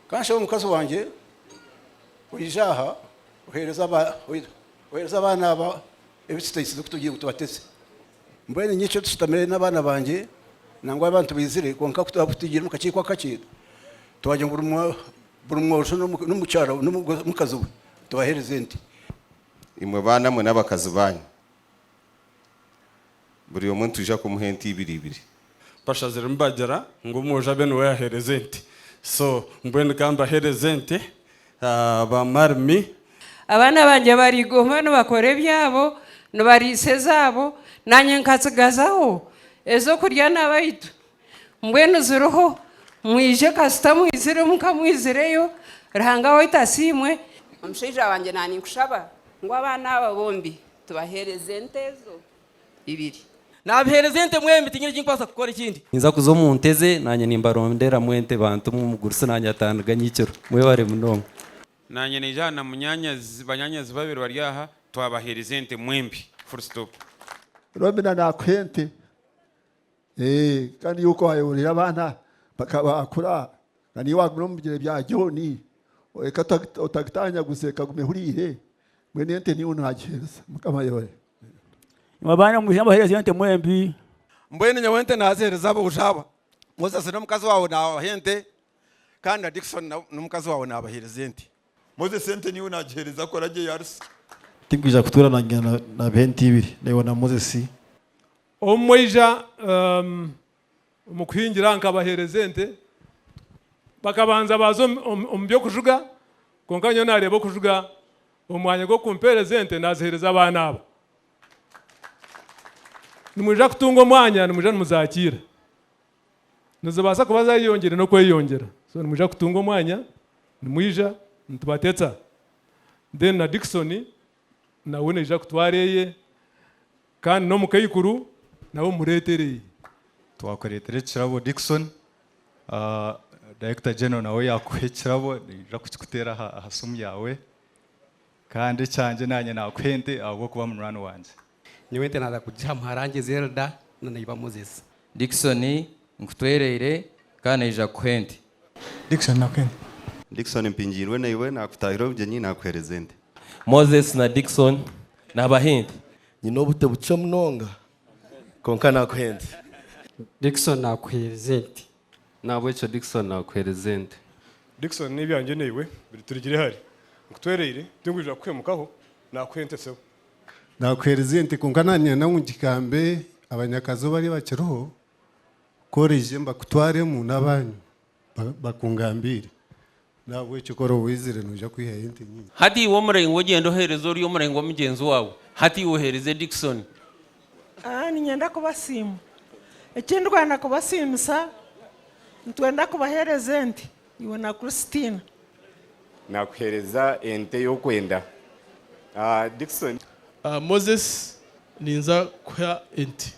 Ka nshabe mukazi wangye oije aha ohereze abaana aba ebi tutaisize ku tugire ngu tubateze. Mbwenu nyico tushutamire n'abaana bangye nangwa abantu baizire, kwonka ku twaba tutaigire omu kakiiko akakye, twagira ngu buri mwojo n'omukazi we tubahereze ente. Imwe baana mwe n'abakazi baanyu buri omwe nitwija kumuha ente ibiri ibiri. Bashazire nibagira ngu omwojo abe niwe yahereza ente so mbwenu ka mbahereze ente ba marmi. Abaana bangye bariguma nibakora ebyabo, nibariisa ezaabo, nanye nkatsigazaho ezokurya nabaitu Mbwenu ziriho, mwije kasita mwiziremu, ka mwizireyo, Ruhanga waitu asiimwe. Omushaija wangye na ninkushaba ngu abaana aba bombi tubaheereze ente ezo ibiri. Naabiheereza ente mwembi, tinyine eki nkubaasa kukora ekindi. Ninza kuza omu nte ze, naanye nimbaronderamu ente bantu mu mugurusi naanye atandiga nyikiro. Mwebare munonga. Naanye naija aha na munyaanyazi, banyaanyazi babiri bari aha, twabaheereza ente mwembi. Full stop. Robina naakuha ente. Kandi iwe ku waayeyoreire abaana bakaba baakura, kandi iwe waagumire omu bigyere bya John, reka otagitaanyaguze, kaguma ehuriire, mbwenu ente niiwe naagiheereza. Mukama ayoore. Nyowe abaana mwijuma mbaheereza ente mwembi. Mbwenu nyowe ente naaziheereza aboojo aba. Moses n'omukazi waawe naabaha ente, kandi na Dickson n'omukazi waawe naabaheereza ente. Moses ente niiwe naagiheereza kora JRC. Tinkwija kutuura na nyina na na b'ente ibiri, naiwe na Moses Omu mwaija omu kuhingira nkabaheereza ente, bakabanza baaza omu by'okujuga kwonka nyowe naareeba okujuga omu mwanya gw'okumpeereza ente naaziheereza abaana abo. Nimwija kutunga omwanya nimwija nimuzaakiira, nizibaasa kuba zaayeyongyire n'okweyongyera so nimwija kutunga omwanya nimwija nitubateetsa then na Dickson Nawe naija kutwara eye, kandi n'omukaikuru nawe omureetere eye. Twakureetera ekirabo Dickson. Director General nawe yaakuha ekirabo, naija kukikuteera aha simu yaawe. Kandi ekyangye naanye naakuha ente ahabw'okuba munywani wangye. Nyowe ente naaza kugiha muharange Zelda na naiba Moses. Dickson, Nkutwereire kandi naija kukuha ente. Dickson, Nakuha ente. Dickson, Mpingiirwe naiwe naakutaahira obugyenyi naakuheereza ente. Moses na Dickson, Naabaha ente. Nyine obute bukye munonga kwonka naakuha ente. Dickson, Naakuheereza ente. Nahabwekyo Dickson naakuheereza ente. Dickson, N'ebyangye naiwe biri turugire hare. Nkutwereire, tinkwiija kukuhemukaho, naakuha ente sebo. Naakuheereza ente kwonka naanyenda ngu ngigambe abanyakazi ou bari bakiriho ku oraije mbakutwaremu n'abaanyu bakungambiire. N'ahabw'ekyo kora owaizire, noija kwihayo ente nyingi. Hati iwe omurengwa ogyenda oheereze ori omurengwa mugyenzi waawe, hati iwe oheereze Dickson. Aa, niinyenda kubasiima. Ekindikwenda kubasiimisa, nitwenda kubaheereza ente, iwe na Christina. Naakuheereza ente ei orikwenda, Dickson. Aa, Moses, ninza kuha ente.